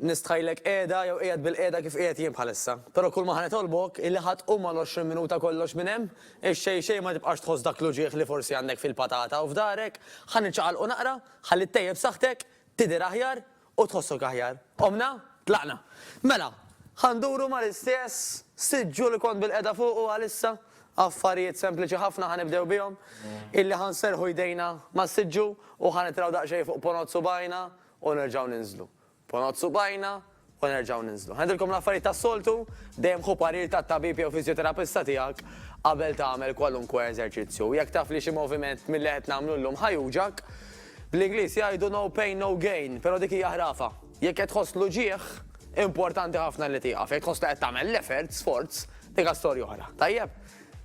Nistħajlek qiegħda jew qiegħed bilqiegħda kif qiegħed jien bħalissa. Però kulma ħa nitolbok hi li ħa tqum mal-għoxrin minuta kollox minn hemm, ix-xejn xejn ma tibqax tħoss dak l-uġigħ li forsi għandek fil-patata u f'dahrek, ħa niċċaqalqu naqra, ħalli ttejjeb saħħtek, tidher aħjar u tħossok aħjar. Qomna? Tlaqna. Mela, ħa nduru mal-istess siġġu li kont bilqiegħda fuqu għalissa, affarijiet sempliċi ħafna ħa nibdew bihom, hi li ħa nserrħu jdejna mas-siġġu u ħa nitraw daqsxejn fuq ponot subgħajna u nerġgħu ninżlu. Ponot subgħajna u nerġgħu ninżlu. Ngħidilkom l-affarijiet tas-soltu, dejjem ħu parir tat-tabib jew fiżjoterapista tiegħek qabel tagħmel kwalunkwe eżerċizzju. U jekk taf li xi moviment milli qed nagħmlu llum ħa juġgħak, bl-Ingliż jgħidu no pain no gain, però dik hija ħrafa. Jekk qed tħoss l-uġigħ, importanti ħafna li tieqaf. Jekk tħoss li qed tagħmel l-effort, sforz, dik storja oħra. Tajjeb?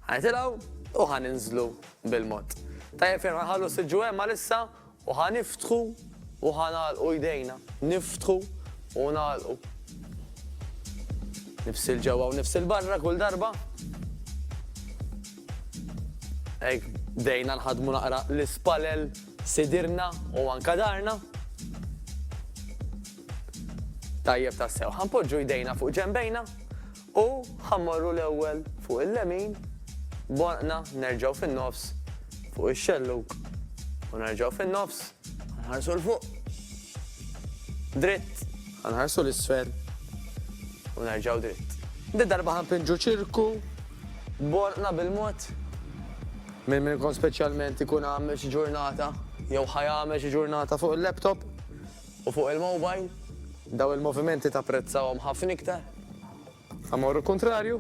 Ħa nitilgħu u ħa ninżlu bil-mod. Tajjeb ferm ħa nħallu siġġu hemm għalissa U ħa niftħu u ħa nagħlqu jdejna, niftħu u nagħlqu. Nifs 'il ġewwa u nifs 'il barra kull darba. Hekk bdejna nħaddmu naqra l-ispalel sidirna u anka darna. Tajjeb tassew. Ħanpoġġu jdejna fuq ġenbejna U ħa mmorru l-ewwel fuq il-lemin, b'għonqna nerġgħu fin-nofs fuq ix-xellug u nerġgħu fin-nofs, ħa nħarsu 'l fuq. Dritt, ħa nħarsu 'l isfel u nerġgħu dritt. Din darba ħa npinġu ċirku b'għonqna bil-mod. Min minnkom speċjalment ikun għamel xi ġurnata jew ħa jagħmel xi ġurnata fuq il-laptop, U fuq il-mobile? Dawn il-movimenti tapprezzahom ħafna iktar? Amor u kuntrarju?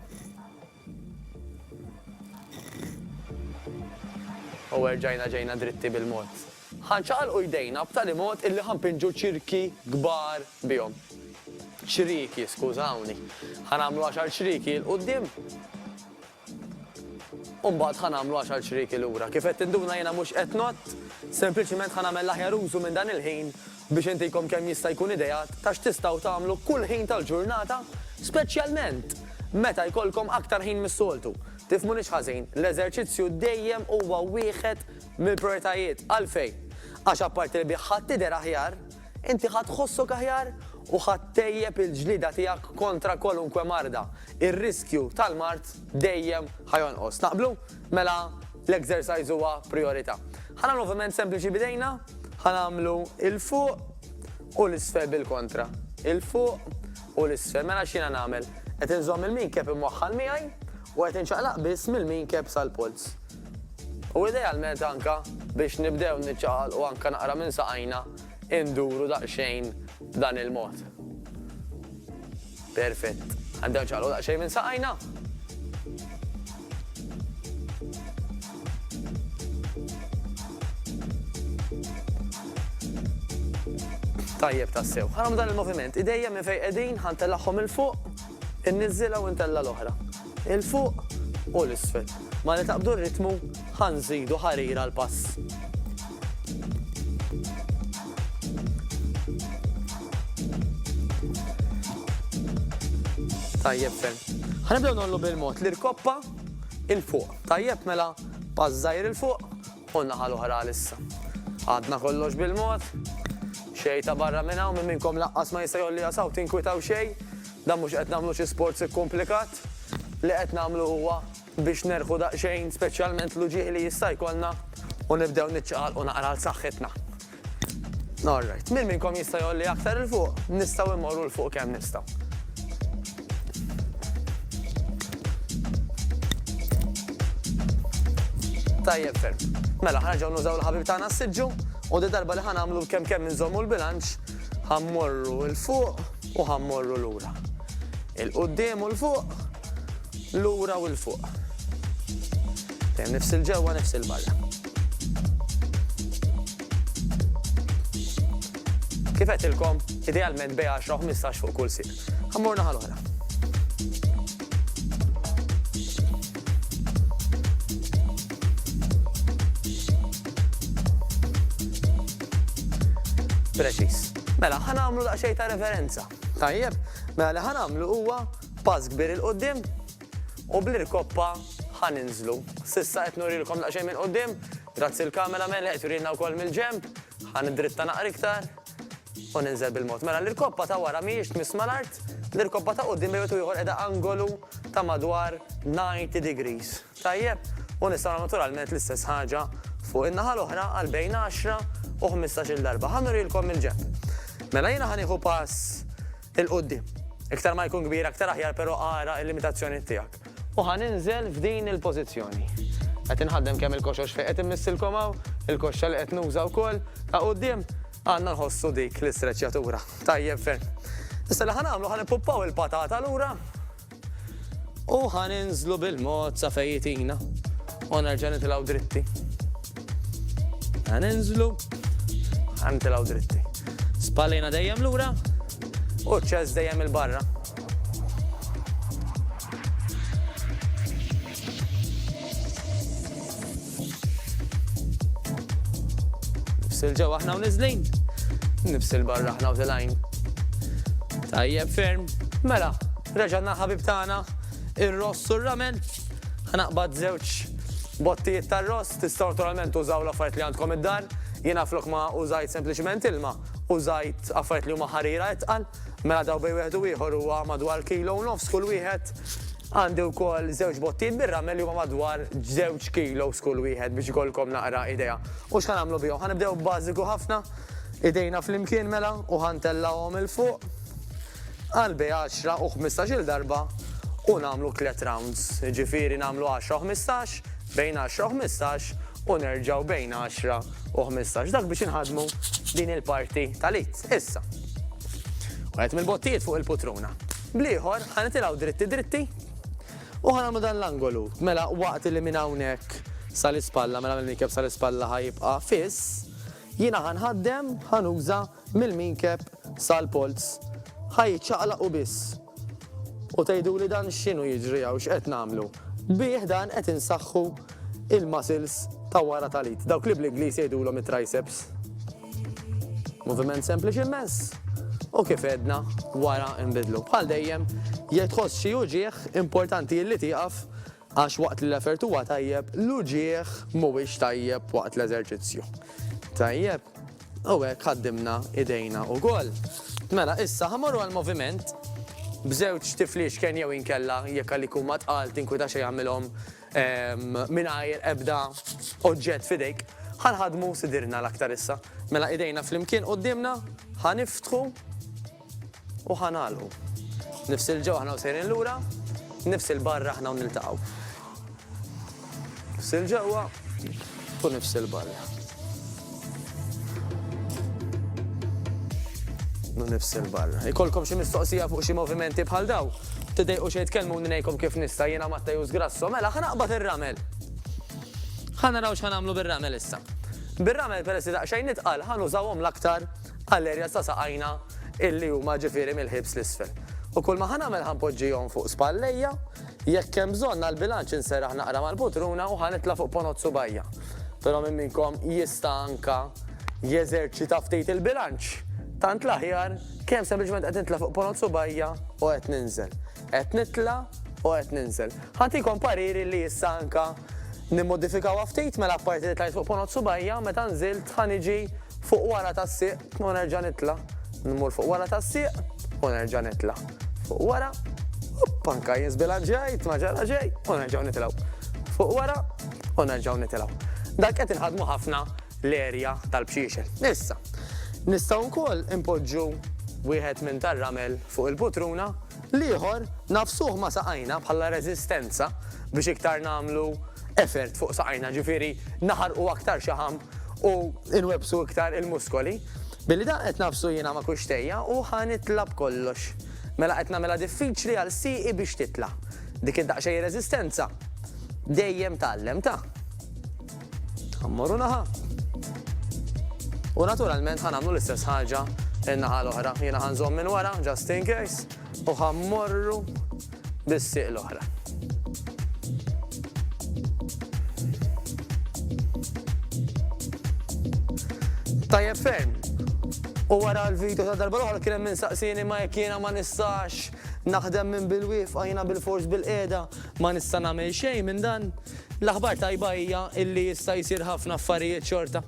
U erġajna ġejna dritti bil-mod. Ħa nċaqalqu jdejna b'tali mod illi ħa npinġu ċirki kbar bihom. Ċrieki, skużawni. Ħa nagħmlu għaxar ċrieki 'l quddiem. U mbagħad ħa nagħmlu għaxar ċrieki lura. Kif qed tinduna jiena mhux qed ngħodd, sempliċiment ħa nagħmel l-aħjar użu minn dan il-ħin biex intikom kemm jista' jkun ideat ta' x'tistgħu tagħmlu kull ħin tal-ġurnata, speċjalment meta jkollkom aktar ħin mis-soltu. Tifhmunix ħażin, l-eżerċizzju dejjem huwa wieħed mill-prijoritajiet. Għalfejn? Għax apparti li bih ħadd tidher aħjar, Inti ħa tħossok aħjar u ħa ttejjeb il-ġlieda tiegħek kontra kwalunkwe marda. Ir-riskju tal-mard dejjem ħa jonqos. Naqblu? Mela l-exercise huwa prijorità. Ħa nagħmlu moviment sempliċi b'idejna, ħa nagħmlu 'il fuq u 'l isfel bil-kontra. 'Il fuq u 'l isfel. Mela x'jiena nagħmel? Qed inżomm il-minkeb imwaħħal miegħi u qed inċaqlaq biss mill-minkeb sal-polz. U idealment anke biex nibdew niċċaqalqu anke naqra minn saqajna. induru daqsxejn b'dan il-mod. Perfett. Għandew ċaqlu daqsxejn minn saqajna. Tajjeb tassew. Ħaram dan il-moviment, idejja minn fejn qegħdin ħantellagħhom il-fuq, inniżżilha u ntella l-oħra. 'il fuq u 'l isfel. Malli taqbdu r-ritmu, ħa nżidu ħarir għall-pass. Tajjeb ferm. Ħa nibdew nollu bil-mod l-irkoppa 'il fuq. Tajjeb mela pass żgħir 'il fuq u n-naħa l-oħra għal issa. Għadna kollox bil-mod. Xejn ta' barra minn hawn minn minnkom laqqas ma jista' jgħolliha saw tinkwitaw xejn. Dan mhux qed nagħmlu xi sports ikkumplikat, li qed nagħmlu huwa biex nerħu daqsxejn speċjalment l-uġigħ li jista' jkollna u nibdew niċċaqalqu naqra għal saħħitna. All right. Min minnkom jista' jgħolli aktar 'il fuq? Nistgħu immorru 'l fuq kemm nistgħu. Tajjeb ferm. Mela ħarġgħu nużaw l-ħabib tagħna s-siġġu u di darba li ħanamlu kemm kemm inżommu l-bilanċ Ħa mmorru 'l fuq u ħa mmorru lura. 'Il quddiem u 'l fuq, lura u 'l fuq. Dejjem nifs 'il ġewwa, nifs 'il barra. Kif għedtilkom, idealment bej 10 u 15 fuq kull sieq. Ħa mmorru naħa l-oħra. Preċiż. Mela, ħa nagħmlu daqsxejn ta' reverenza. Tajjeb, mela li ħa nagħmlu huwa pass kbir il qudiem u bl-irkoppa ħa ninżlu. Sissa qed nurilkom daqsxejn minn qudiem, grazzi l-kamera mela qed turilna wkoll mill-ġemp, ħa nidritta naqra iktar u ninżel bil-mod. Mela l-irkoppa ta' wara mhijiex tmiss mal-art, l-irkoppa ta' qudiem bejwet u ieħor qiegħda angolu ta' madwar 90 degrees. tajjeb u nistgħu nagħmlu naturalment l-istess ħaġa fuq in-naħa l-oħra għal bejn għaxra u ħmistax-il darba. Ħa nurilkom mill-ġenb. Mela jiena ħa nieħu pass 'il quddiem. Iktar ma jkun kbir aktar aħjar però ara l-limitazzjoni tiegħek. U ħa ninżel f'din il-pożizzjoni. Qed inħaddem kemm il-koxox fejn qed immissilkom hawn, il-koxxa li qed nuża wkoll, ta' quddiem, għandna nħossu dik l-istreċjatura. Tajjeb ferm. Issa li ħa nagħmlu ħa nippuppaw il-patata lura. U ħa ninżlu bil-mod sa fejn jitina. U nerġa' nitilgħu dritti. Ħa ninżlu, ħa nitilgħu dritti. Spallina dejjem lura u ċess dejjem il-barra. Nifsil ġew aħna u niżlin. Nifsil barra aħna u tilajn. Tajjeb ferm. Mela, reġanna ħabib tagħna ir-ross u r-ramen. Ħanaqbad żewġ bottijiet tar-ross, tista' naturalment użaw l-affarijiet li għandkom id-dar. Jiena flok ma użajt sempliċement ilma, użajt affarijiet li huma ħarira itqal. Mela daw bej wieħed u ieħor huwa madwar kilo u nofs kull wieħed. Għandi wkoll żewġ bottijiet bir-ramel li huma madwar żewġ kilos kull wieħed biex ikollkom naqra idea. U x'ħa nagħmlu bihom? Ħa nibdew b'bażiku ħafna, idejna flimkien mela u ħa ntellgħuhom 'il fuq għal bejn għaxra u ħmistax-il darba u nagħmlu tliet rounds. Jiġifieri nagħmlu għaxra u ħmistax, bejn għaxra u ħmistax u nerġgħu bejn għaxra u ħmistax. Dak biex inħaddmu din il-parti tal-id. Issa. Wieħed mill-bottijiet fuq il-putruna. Bl-ieħor, ħa nitilgħu dritti dritti u ħa nagħmlu dan l-angolu. Mela waqt li minn hawnhekk sa l-ispalla, mela mill-minkeb sa l-ispalla ħa jibqa' fiss, jiena ħa nħaddem, ħa nuża mill-minkeb sal-polz. Ħa jiċċaqlaq u biss. U tgħiduli dan x'inhu jiġri hawn, x'qed nagħmlu? Bih dan qed insaħħu il-muscles ta' wara tal-id, dawk li bl-Ingliż jgħidulhom it-triceps. Moviment sempliċi immens u kif edna wara nbidlu. Bħal dejjem, jekk tħoss xi uġieħ importanti li tieqaf għax waqt li l-effert huwa tajjeb, l-uġieħ mhuwiex tajjeb waqt l-eżerċizzju. Tajjeb, u hekk ħaddimna idejna wkoll. Mela, issa ħamorru għal moviment b'żewġ tifliex kien jew inkella jekk għalik huma tqal tinkwita xejn jagħmilhom Mingħajr ebda oġġett f'idejk, ħa nħaddmu sidirna l-aktar issa. Mela idejna flimkien quddiemna, ħa niftħu u ħa nagħlqu. Nifs 'il ġewwa aħna u sejrin lura, nifs 'il barra aħna u niltaqgħu. Nifs 'il ġewwa. Fu nifs il-barra. Nu nifs il-barra. Ikolkom xi mistoqsija fuq xi movimenti bħal daw? Tidejqu xejn tkellmu ngħidkom kif nista' jiena Matta Jus Grasso, mela ħa naqbad ir-ramel. Ħa naraw x'ħa nagħmlu bir-ramel issa. Bir-ramel peress li daqsxejn nitqal ħa nużawhom l-aktar għall-erja ta' saqajna illi huma ġifieri mill-ħiebs l-isfel. U kull ma ħa nagħmel ħa npoġġihom fuq spallejja Jekk hemm bżonn għall-bilanċ inserraħ naqra mal-putruna u ħa nitla' fuq ponot subgħajja. Però min minnkom jista' anka jeżerċita ftit il-bilanċ? Tant l-aħjar, kemm sempliċement qed nitla' fuq ponot subgħajja u qed ninżel. Qed nitla' u qed ninżel. Ħa ntikom pariri li issa anka nimmodifikawha ftit mela apparti li tlajt fuq ponot subgħajja, meta nżilt ħa niġi fuq wara tas-sieq u nerġa' nitla', nmur fuq wara tas-sieq u nerġa' nitla' fuq wara, opp anka jien żbilanċjajt ma ġara xejn u nerġgħu nitilgħu fuq wara u nerġgħu nitilgħu. Dak qed inħaddmu ħafna l-erja tal-bxiexel. Issa, nistgħu wkoll inpoġġu wieħed minn tar-ramel fuq il-putruna L-ieħor, nagħfsuh ma' saqajna bħala reżistenza biex iktar nagħmlu effort fuq saqajna, ġifieri naħarqu aktar xaħam u nwebbsu iktar il-muskoli. Billi dan qed nagħfsu jiena ma' kuxtejja u ħa nitla' b'kollox. Mela qed nagħmilha diffiċli għal sieqi biex titla'. Dik id-daqsxejn reżistenza dejjem tgħallem, ta? Ħammorru naħa. U naturalment ħanamlu l-istess ħaġa in-naħa l-oħra. Jiena ħanżomm minn wara, just in case, u ħammorru bis-sieq l-oħra. Tajjeb ferm. U wara l-video ta' darba l-oħra kien hemm min saqsini ma jekk jiena ma nistax naħdem minn bil-wifqa jiena bil-fors bil-qiegħda ma nista' nagħmel xejn minn dan. L-aħbar tajba hija illi jista' jsir ħafna affarijiet xorta.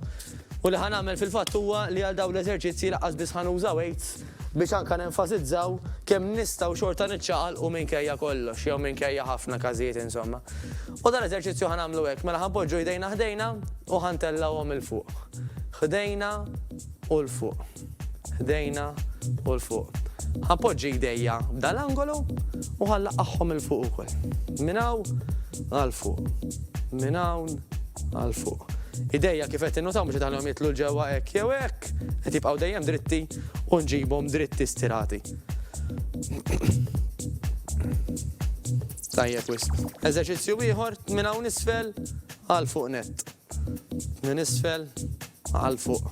U li ħa nagħmel fil-fatt huwa li għal dawn l-eżerċizzji lanqas biss ħa nuża weights biex anke nenfasizzaw kemm nistgħu xorta niċċaqalqu minkejja kollox jew minkejja ħafna każijiet insomma. U dal-eżerċizzju ħa nagħmlu hekk, mela ħa npoġġu jdejna ħdejna u ħa ntellgħuhom 'il fuq. Ħdejna u 'l fuq. ħdejna u 'l fuq. Ħanpoġġi jdejja f'dan l-angolu u ħanlaqqagħhom 'il fuq ukoll. Minn hawn għal fuq. Minn hawn għal fuq. Idejja kif qed tinnutaw mhux qed iħallihom jidħlu 'l ġewwa hekk jew hekk, qed jibqgħu dejjem dritti u nġibhom dritti stirati. Tajjeb wisq. Eżerċizzju ieħor minn hawn isfel għal fuq nett. Minn isfel għal fuq.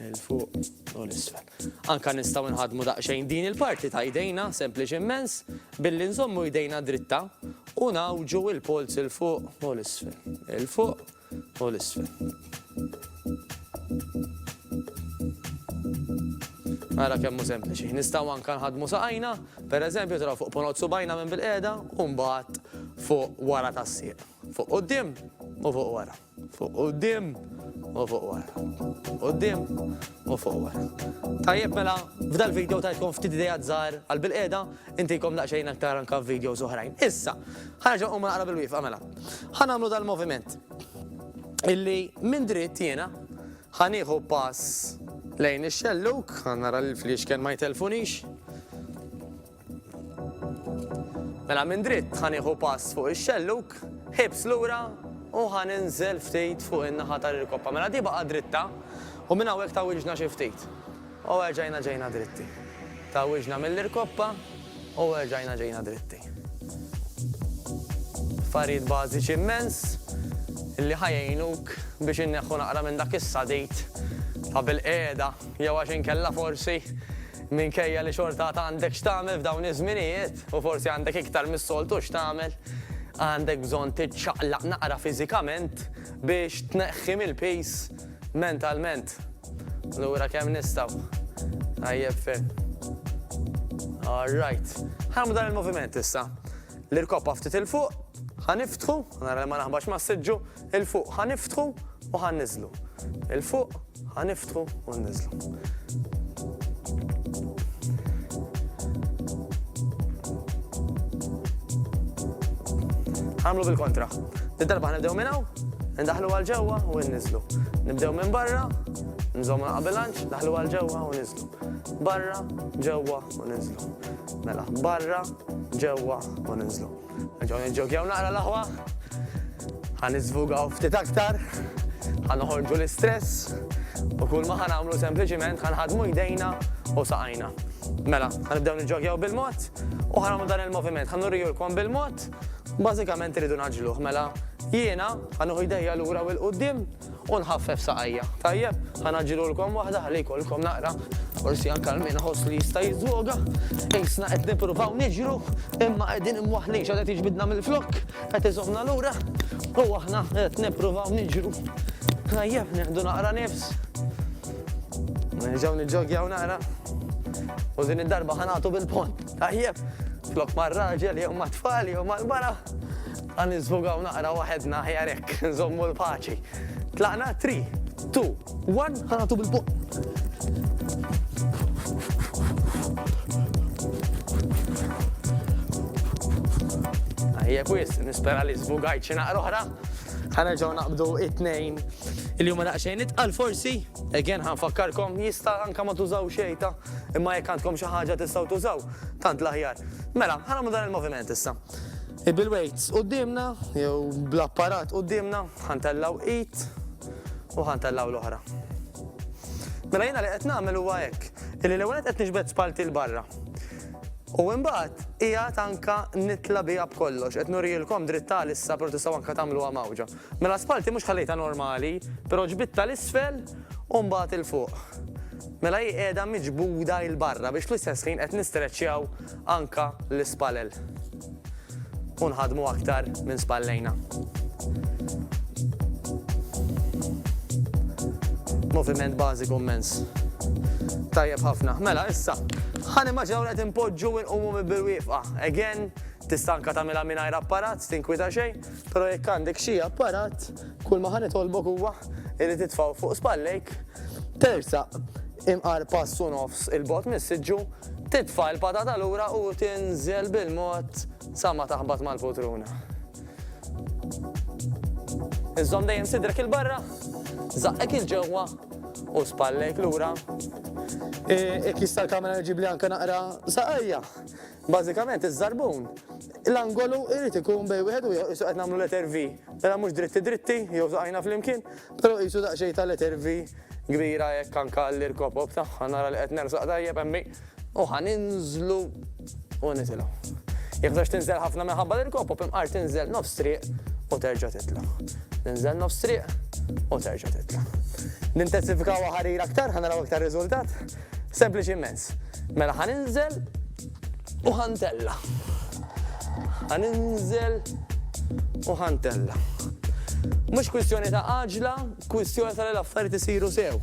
'l fuq u 'l isfel. Anke nistgħu nħaddmu daqsxejn din il-parti ta' jdejna, sempliċi mmens, billi nżommu jdejna dritta u ngħawġu l-polz 'il fuq u 'l isfel, 'il fuq u 'l isfel. Ara kemm hu sempliċi. Nistgħu anke nħaddmu saqajna, pereżempju taraw fuq ponot subgħajna minn bil-qiegħda u mbagħad fuq wara tas-sieq. Fuq quddiem u fuq wara. Fuq quddiem u fuq wara. Quddiem u fuq wara. Tajjeb mela, f'dal-video tajtkom ftit ideat żgħar għal bilqiegħda, intikom daqsxejn aktar anke f'videos oħrajn. Issa, ħa nerġa' nqum naqra bil-wieqfa mela. Ħa nagħmlu dal-moviment illi minn dritt jiena ħa nieħu pass lejn ix-xellug, ħa nara li l-fliexken ma jtellfunix. Mela minn dritt ħa nieħu pass fuq ix-xellug, ħibs lura u ħa ninżel ftit fuq in-naħa tal-irkoppa. Mela di baqa' dritta u minn hawnhekk tgħawwiġna xi ftit. U erġajna ġejna dritti. Tgħawwiġna mill-irkoppa u erġajna ġejna dritti. Affarijiet bażiċi immens li ħa jgħinuk biex inneħħu naqra minn dak is-sadid ta' bilqiegħda jew għax inkella forsi Minkejja li xorta għad għandek x'tagħmel f'dawn iż-żminijiet, u forsi għandek iktar mis-soltu x'tagħmel, għandek bżonn tiċċaqlaq naqra fiżikament biex tneħħi mill-piż mentalment. Lura kemm nistgħu. Tajjeb ferm. All right. Ħarmu dan il-moviment issa. L-irkoppa ftit 'il fuq, ħa niftħu, nara li ma naħbax mas-siġġu, 'Il fuq ħa niftħu u ħa nniżżlu. Il fuq ħa niftħu u nniżżlu. Ħa nagħmlu bil-kontra. Did-darba ħa nibdew minn hawn, indaħlu għal ġewwa u nniżżlu. Nibdew minn barra, nżommu naqa' bilanċ, daħlu għal ġewwa u niżżlu. Barra, ġewwa u niżżlu. Mela, barra, ġewwa u niżżlu. Nġaw nġokjaw naqra l-aħwa, ħan izvugaw ftit aktar, ħan uħorġu l-istress, u kull ma ħan għamlu sempliciment ħan ħadmu jdejna u saqajna. Mela, ħan ibdew nġokjaw bil-mod, u ħan għamlu dan il-moviment, ħan urriju l-kom bil-mod, bazikament rridu naġluħ, mela, jiena ħan uħu jdejja l-ura u l-qoddim, U nħaffef saqajja. Tajjeb, ħa ngħaġġilulkom waħda ħalli jkollkom naqra, forsi anke għal min iħoss li jista' jiżżwoga. Qisna qed nippruvaw niġru, imma qegħdin imwaħħlin x'għad qed jiġbidna mill-flokk, qed iżommna lura, u aħna qed nippruvaw niġru. Tajjeb, nieħdu naqra nifs. Nerġgħu niġġogjaw naqra. U din id-darba ħa nagħtu bil-pont. Tajjeb, flok mar-raġel jew mat-tfal jew mal-mara. Ħa niżvogaw naqra waħedna aħjar hekk, nżommu l-paċi. Tlaqna three, two, one, ħa nagħtu bil-buq. Ejja kwis, nispera li żvugajt xi naqra oħra. Ħa nerġgħu naqbdu it-tnejn li huma daqsxejn itqal forsi. Again ħa nfakkarkom jista' anke ma tużaw xejta, imma jekk għandkom xi ħaġa tistgħu tużaw, tant l-aħjar. Mela, ħa nagħmlu dan il-moviment issa. Bil-weights quddiemna jew bl-apparat quddiemna ħa ntellgħu id u ħa ntellgħu l-oħra. Mela jiena li qed nagħmel huwa hekk, illi l-ewwel nett qed niġbed spallti 'l barra. U imbagħad qiegħed anke nitla' biha b'kollox, qed nurielkom dritt għalissa però tistgħu anke tagħmluha mgħawġa. Mela spallti mhux ħallejtha normali, però ġbidtha 'l isfel u mbagħad 'il fuq. Mela hi qiegħda miġbuda 'il barra biex fl-istess ħin qed nistreċċjaw Anka l-ispalel. U nħaddmu aktar minn spallejna. Moviment bażiku mmens. Tajjeb ħafna. Mela, issa, ħa nimmaġinaw li qed inpoġġu u nqumu bil-wieqfa. Again, tista' anka tagħmilha mingħajr apparat, tinkwita xejn, però jekk għandek xi apparat, kull ma ħa nitolbok huwa li titfgħu fuq spallejk, tersaq imqar pass u nofs 'il bogħod mis-siġġu, Titfa' l-patata lura u tinżel bil-mod sa ma taħbat mal-putruna. Iżżomm dejjem sidrek 'il barra, żaqqek 'il ġewwa u spallejk lura. Jekk jista' l-kamera ġiblli anke naqra saqajja. Bażikament iż-żarbun, l-angolu jrid ikun bejn wieħed u ieħor qisu qed nagħmlu letter V. Mela mhux dritti dritti jew saqajna flimkien, Però qisu daqsxejn ta' letter V kbira hekk anke għall-irkopop tagħha, nara li qed nersaq tajjeb hemmi u ħa ninżlu u nitilgħu. Jekk tridx tinżel ħafna minħabba l-irkopop imqar tinżel nofs triq u terġa' titla'. Tinżel nofs triq u terġa' titla'. Nintensifikawha ħarir aktar ħa naraw iktar riżultat. Sempliċi immens. Mela ħa ninżel u ħa ntella. Ħa ninżel u ħa ntella. Mhux kwistjoni ta' għaġla, kwistjoni ta' l-affarijiet isiru sew.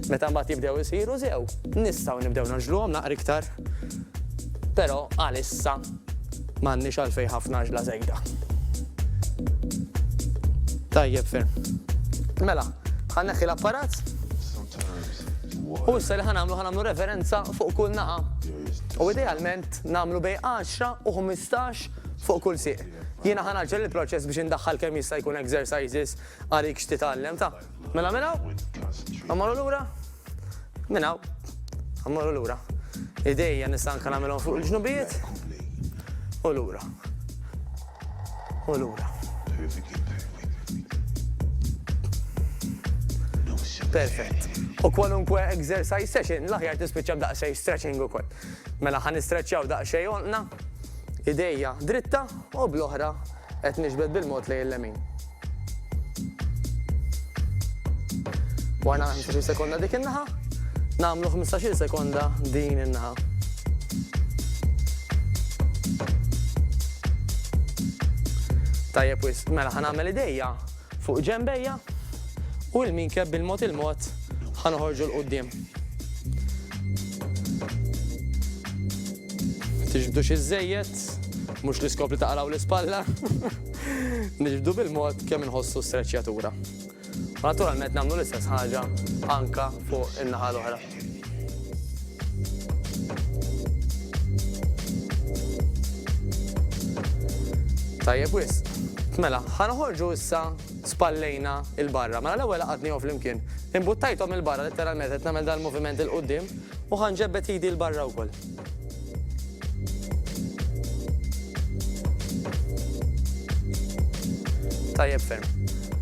Meta mbagħad jibdew isiru sew, nistgħu nibdew naġluhom naqra iktar. Però għalissa M'għandniex għalfejn ħafna għaġla żejda. Tajjeb ferm. Mela, ħa neħħi l-apparat. U issa li ħanamlu ħanamlu referenza fuq kull naqa. U idealment namlu bej 10 u 15 fuq kull siq. Jiena ħanaġġel il-proċess biex indaħħal kemm jista' jkun exercises għalik x'titgħallem ta' Mela minn hawn, għammaru lura, minn hawn, għammaru lura. Idejja nista' anke nagħmilhom fuq il-ġnubijiet u lura. U lura. Perfett. U kwalunkwe exercise session, l-aħjar tispiċċa b'daqsxejn stretching ukoll. Mela ħan istretchjaw daqsxejn onqna. Idejja dritta u bl-oħra qed niġbed bil-mod lejn il-lemin. Warna 15 sekonda dik in-naħa, nagħmlu 15 sekonda din in-naħa. Tajjeb wis, mela ħanagħmel idejja fuq ġembejja u l-min keb bil-mod il-mod ħanoħorġu l-qoddim. Ma tiġbdux iżżejjed, mhux l-iskop li taqraw l-ispalla. Niġbdu bil-mod kemm inħossu streċjatura. U naturalment nagħmlu l-istess ħaġa anka fuq in-naħa l-oħra. Tajjeb wisq. Mela, ħa noħorġu issa spallejna 'l barra. Mela l-ewwel għaqadnihom flimkien. Imbuttajthom 'il barra, litteralment qed nagħmel dan il-moviment 'il quddiem, u ħa nġebbed idi 'l barra wkoll. Tajjeb ferm.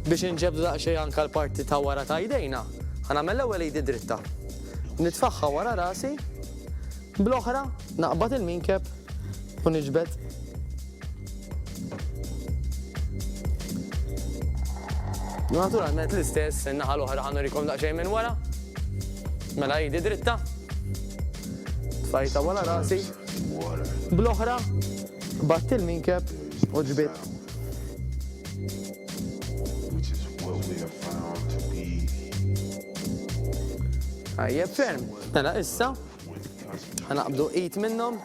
Biex inġebdu daqsxejn anke l-parti ta' wara ta' jdejna, ħa nagħmel l-ewwel idi dritta. Nitfagħha wara rasi, Bl-oħra naqbad il-minkeb u niġbed. Naturalment l-istess, in-naħa l-oħra ħannu rikom daqsxejn minn wara. Mela jidi dritta. Fajta wara rasi. Bl-oħra, batt il-minkeb u ġbit. Għajjeb ferm. Mela issa, Ħa naqbdu id minnhom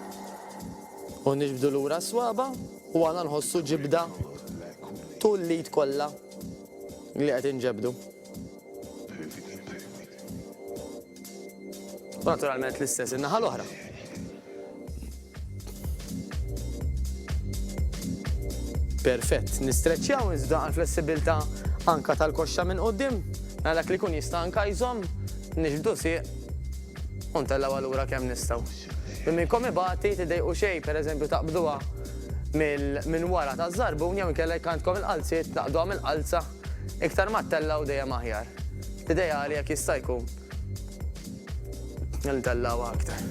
u niġbdu lura s-swaba u għana nħossu ġibda tul l-id kollha li qed inġebdu. Naturalment l-istess in-naħa l-oħra. Perfett. Nistreċċjaw iżda għall-flessibilità anke tal-koxxa minn quddiem, mela dak li jkun jista' anke jżomm, niġbdu sieq u ntellgħu għal lura kemm nistgħu. Min minnkom ibati, tiddejqu xejn, pereżempju taqbduha minn wara taż-żarbun jew inkella jekk għandkom il-qalziet taqbduha mill-qalza, iktar ma ttellgħu dejjem aħjar. L-ideali jekk jista' jkun. Ndellaw aktar.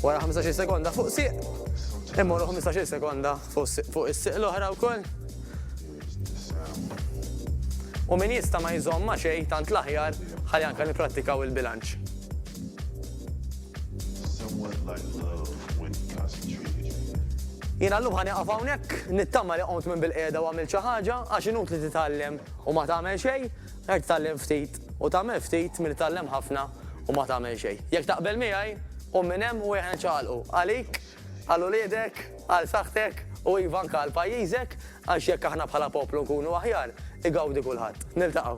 Wara 15 sekonda fuq siq, immorru 15 sekonda fuq is-siq l-oħra wkoll. U min jista' ma jżomm ma' xejn tant l-aħjar ħalli anke nipprattikaw il-bilanċ. Jiena llum ħa nieqaf hawnhekk, nittama li qomt minn bil-qiegħda u għamilt xi ħaġa għax inutli titgħallem u ma tagħmel xejn. Hekk tgħallem ftit u tagħmel ftit milli tgħallem ħafna u ma tagħmel xejn. Jekk taqbel miegħi, qum minn hemm u ejja niċċaqalqu, għalik, għal uliedek, għal saħħtek u iva anke għal pajjiżek għax jekk aħna bħala poplu nkunu aħjar, igawdi kulħadd. Niltaqgħu.